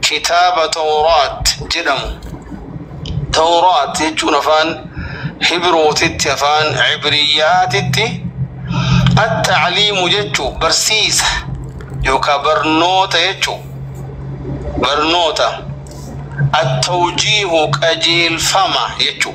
kitaaba Tawraat jedhamu. Tawraat jechuun afaan Hibrootitti afaan Ibriyyaatitti at-ta'liimu jechuu barsiisa yookaan barnoota jechuu barnoota at-tawjiihu qajeelfama jechuu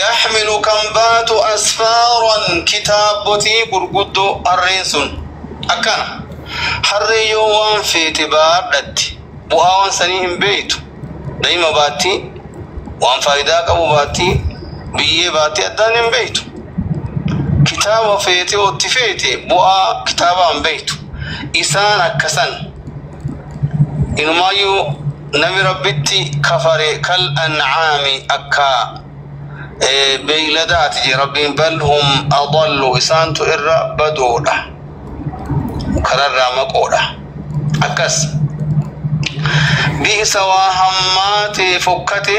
yaxmilu kan baatu asfaaran kitaabbotii gurguddoo harreen sun akkana harree yoo waan feete baadhatti bu'aa waan sanii hin beeytu da'ima baatti waan faayidaa qabu baatti biyyee baatti addaan hin beeytu kitaaba feete otti feete bu'aa kitaabaa hin beeytu isaan akkasan inumaayyuu nami rabbitti kafare kal an'aami akka beeyladaati jee rabbiin bal hum adallu isaantu irra badoodha kararraa maqoodha akkas bi'isa waa hammaate fokkate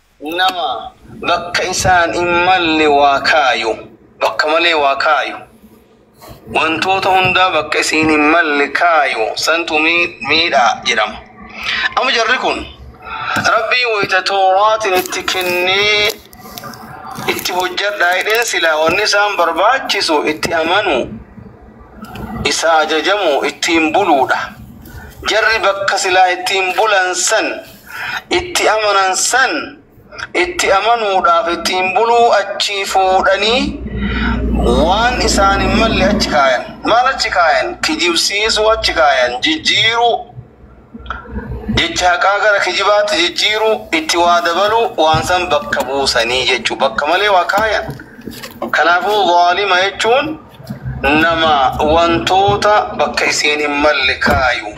nama bakka isaan hin malle waa kaayu, bakka malee waa kaayu, wantoota hundaa bakka isiin hin malle kaayu santu mii- miidha jedhama. Amma jarri kun rabbii wayita tooraatiin itti kennee itti hojjadhaa jedheen silaa wanni isaan barbaachisu itti amanuu isa ajajamu ittiin buluudha. Jarri bakka silaa ittiin bulan san itti amanan san itti amanuudhaaf ittiin buluu achii fuudhanii waan isaan hin malle achi kaayan maal achi kaayan kijibsiisuu achi kaayan jijjiiruu jecha haqaa gara kijibaatti jijjiiruu itti waa dabaluu waan san bakka buusanii jechuu bakka malee waa kaayan kanaafuu zaalima jechuun nama wantoota bakka isiin hin malle kaayu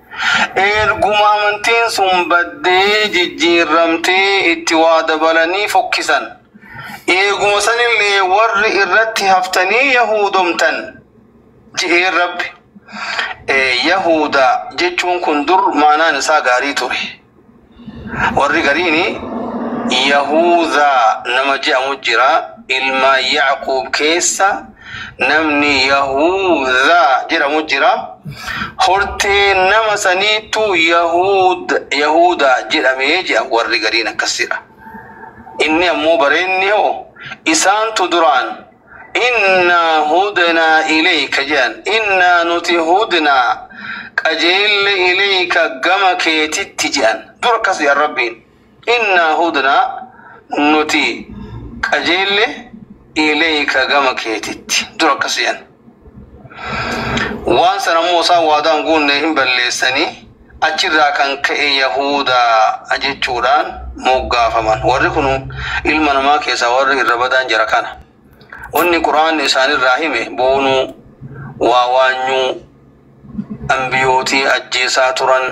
Eerguma amantiin sun baddee, jijjiirramtee, itti waa dabalanii fokkisan. Eeguma sanillee warri irratti haftanii Yahuudomtan. Je'een Rabbi. Ee, Yahuuda jechuun kun dur maanaan isaa gaarii ture. warri gariini yahuudaa nama je'amu jira ilma yaaquub keessa namni yahuudaa jedhamu jira hortee nama saniitu yahuud yahuudaa jedhamee je'a warri gariin akkasidha inni ammoo bareenni hoo isaantu duraan Innaa hudnaa ilayka jedhan. Innaa nuti hudnaa qajeelle ilayka gama keetitti jedhan. Dur akkas jedhan Rabbiin. Innaa hudnaa nuti qajeelle ilayka gama keetitti. Dur akkas jedhan. Waan san ammoo isaan waadaan guunne hin balleessanii. Achi irraa kan ka'e Yahuudaa jechuudhaan moggaafaman. Warri kun ilma namaa keessaa warri irra badaan jara kana. Wanni Qur'aanni isaanirraa hime boonuu, waa waanyuu, anbiyootii ajjeesaa turan,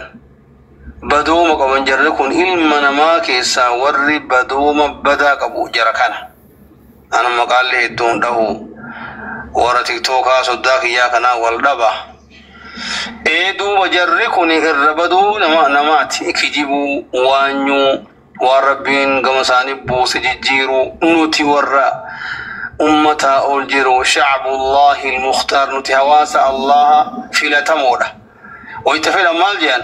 badooma qaban jarri kun ilma namaa keessaa warri badooma badaa qabu jara kana. Anu maqaalle hedduun dhahu warra tiktookaa soddaa kiyyaa kanaa wal dhaba. Ee duuba jarri kun irra baduu nama namaati kijibuu waanyuu waan rabbiin gama isaanii buuse jijjiiruu nuti warra ummataa ol jiru shacbullaahi ilmukhtaar nuti hawaasa allaha filatamoodha. Wayita fedhan maal jedhan?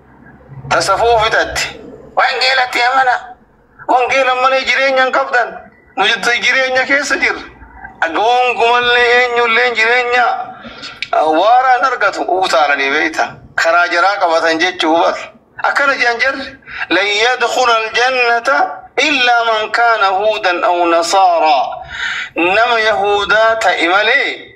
ta safuu fixatte wangeelatti amana wangeela malee jireenya hin qabdan nu jettu jireenya keessa jirra gonkumallee eenyulleen jireenya ah, waaraa hin argatu utaalanii beekta karaa jaraa qabatan jechuu bar akkana jedhan jarri lan yadkhula aljannata illaa man kaana huudan aw nasaaraa nama yahuudaa ta'e malee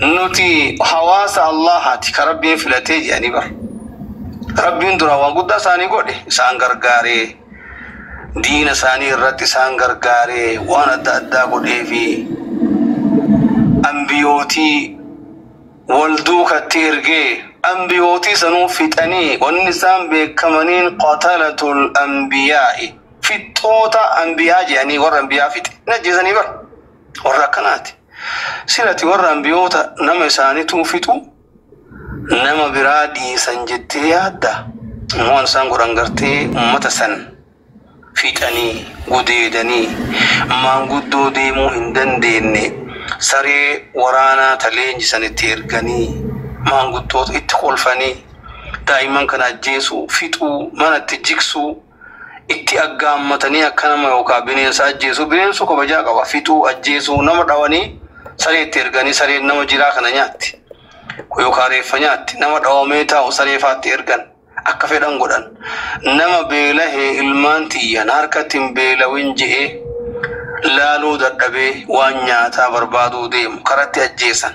Nuti hawaasa Allaahati ka Rabbiin filatee jedhanii bar. Rabbiin duraan waan guddaa isaanii godhe isaan gargaaree diina isaanii irratti isaan gargaaree waan adda addaa godhee fi ambiyootii wal duukatti ergee ambiyootii sanuu fixanii wanni isaan beekamaniin qatalatul ambiyaa'i fixxoota ambiyaa jedhanii warra ambiyaa fixe hin ajjeesanii bar warra akkanaati. Silati warra anbiyoota nama isaanituu fixu nama biraa dhiisan jettee yaadda immoo waan isaan godhan gartee ummata san fixanii gudeedanii maanguddoo deemuu hin dandeenye saree waraanaa ta leenjisan itti erganii maanguddoota itti kolfanii daa'imman kana ajjeesuu fixuu mana itti jigsuu itti aggaammatanii akka nama yookaan bineensa ajjeesu bineensu kabajaa qaba fixuu ajjeesuu nama dhawanii saree itti erganii sareen nama jiraa kana nyaatti yookaan reeffa nyaatti nama dhawamee taa'u saree faatti ergan akka fedhan godhan nama beelahee ilmaan tiyya na harkatti hin beelawin je'ee laaluu dadhabee waan nyaataa barbaaduu deemu karatti ajjeesan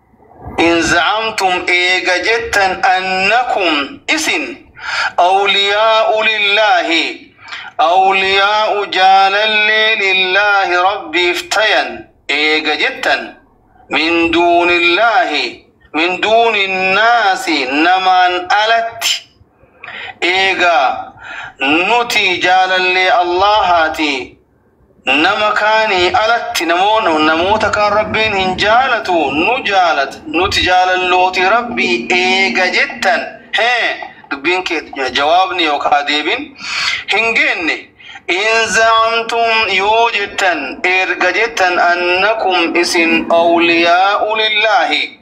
in za'amtum eega jettan annakum isin awliyaa'u lillaahi awliyaa'u jaalallee lillaahi rabbiif tayan eega jettan min duunillaahi min duuni naasi namaan alatti eega nuti jaalallee allaahaatii Nama kaanii alatti namoota kaan Rabbiin hin jaalatu, nu jaalata, nuti jaalallooti Rabbii eega jettan, hee, dubbiin kee, jawaabni yookaa deebin, hin geenne, in za'amtum yoo jettan, erga jettan, annakum isin awliyaa'u lillaahi,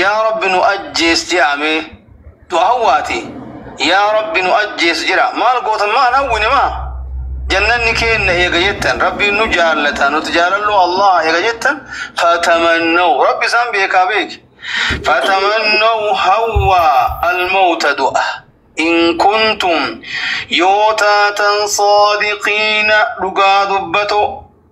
yaa rabbi nu ajjees jedha mee du hawwaati yaa rabbi nu ajjees jedha maal gootan maa hin hawwine maa jannanni keenna eega jettan rabbiin nu jaallata nuti jaalalloo allaha eega jettan fatamannaw rabbi isaan beekaa beeki fatamannaw hawwaa almawta du'a in kuntum yoo taatan saadiqiina dhugaa dubbatoo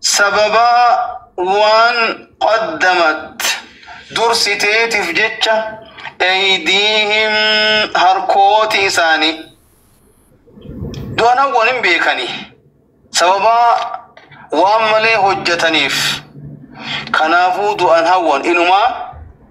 Sababaa waan qaddamat dursiteetiif jecha eydiihim harkooti isaanii du'anawwan hin beekani sababaa waan malee hojjataniif kanaafuu du'an hawwan inumaa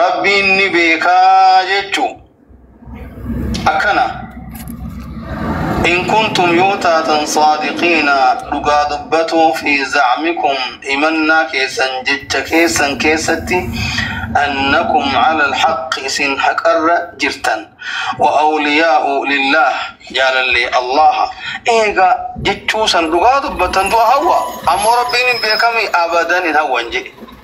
Rabbiin ni beekaa jechuu akkana in kuntum yoo taatan saadiqiina dhugaa dubbatuu fi zacmikum himannaa keessan jecha keessan keessatti annakum cala alxaqi isin haqarra jirtan wa awliyaa'u lillaah jaalallee allaha eega jechuu san dhugaa dubbattan du'a hawwa ammoo rabbiin hin beekami abadan hin hawwan jedhe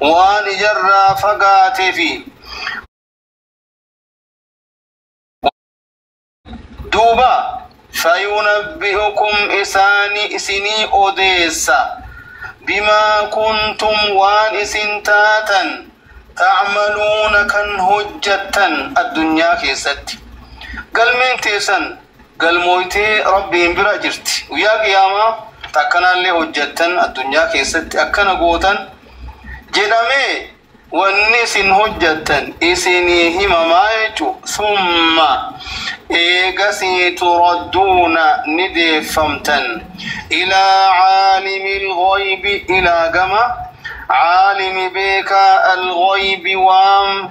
waan ijarraa fagaatee fi duuba fayunabbi'ukum isaani isinii odeessa bimaa kuntum waan isin taatan ta'maluuna kan hojjattan addunyaa keessatti galmeen teessan galmooytee Rabbiin bira jirti. Guyyaa Qiyaamaa takkanaallee hojjattan addunyaa keessatti akkana gootan jedhamee wanni isin hojjattan isinii himamaa jechu summa eegasii turadduuna ni deeffamtan ilaa caalimi lghaybi ilaa gama caalimi beekaa alghaybi waan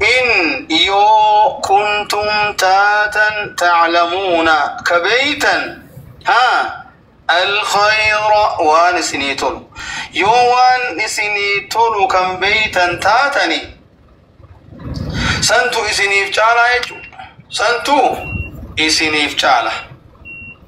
in yoo kuntum taatan taclamuuna ka beeytan ha alkhayra waan isinii tolu yoo waan isinii tolu kan beeytan taatani santu isiniif caalaa jechu santu isiniif caala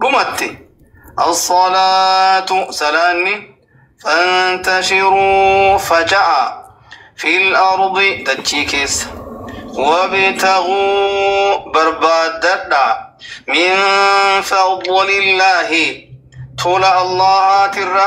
dhumatti as-salaatu salaanni fantashiruu faca'a fil ardi dachii keessa wabtaguu barbaaddadha min fadlillaahi tola allahaatirra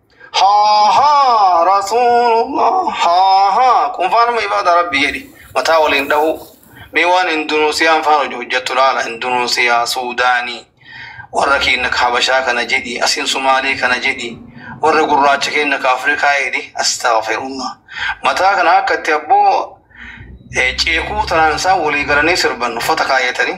Haaha rasuulullah haaha qunfaanuma ibaada rabbi jedhi mataa waliin dhahuu mee waan indunuusiyaan faan hojii hojjettu laala indunuusiyaa suudaanii warra keenya ka habashaa kana jedhi asiin sumaalee kana jedhi warra gurraacha keenya ka afrikaa jedhi astaghfirullah mataa kana akka itti abboo eh, ceekuu tanaan isaan walii galanii sirban uffata kaayatanii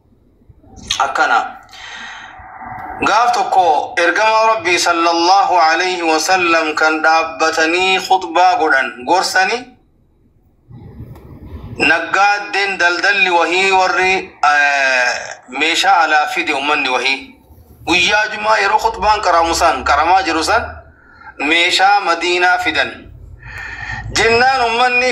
akkana gaaf tokko ergamaa rabbii sallallahu alayhi wasallam kan dhaabbatanii khutbaa godhan gorsani naggaaddeen daldalli wahii warri eh, meeshaa alaa fide ummanni wahii guyyaa jumaa yeroo khutbaan qaramu san qaramaa jiru san meeshaa madiinaa fidan jennaan ummanni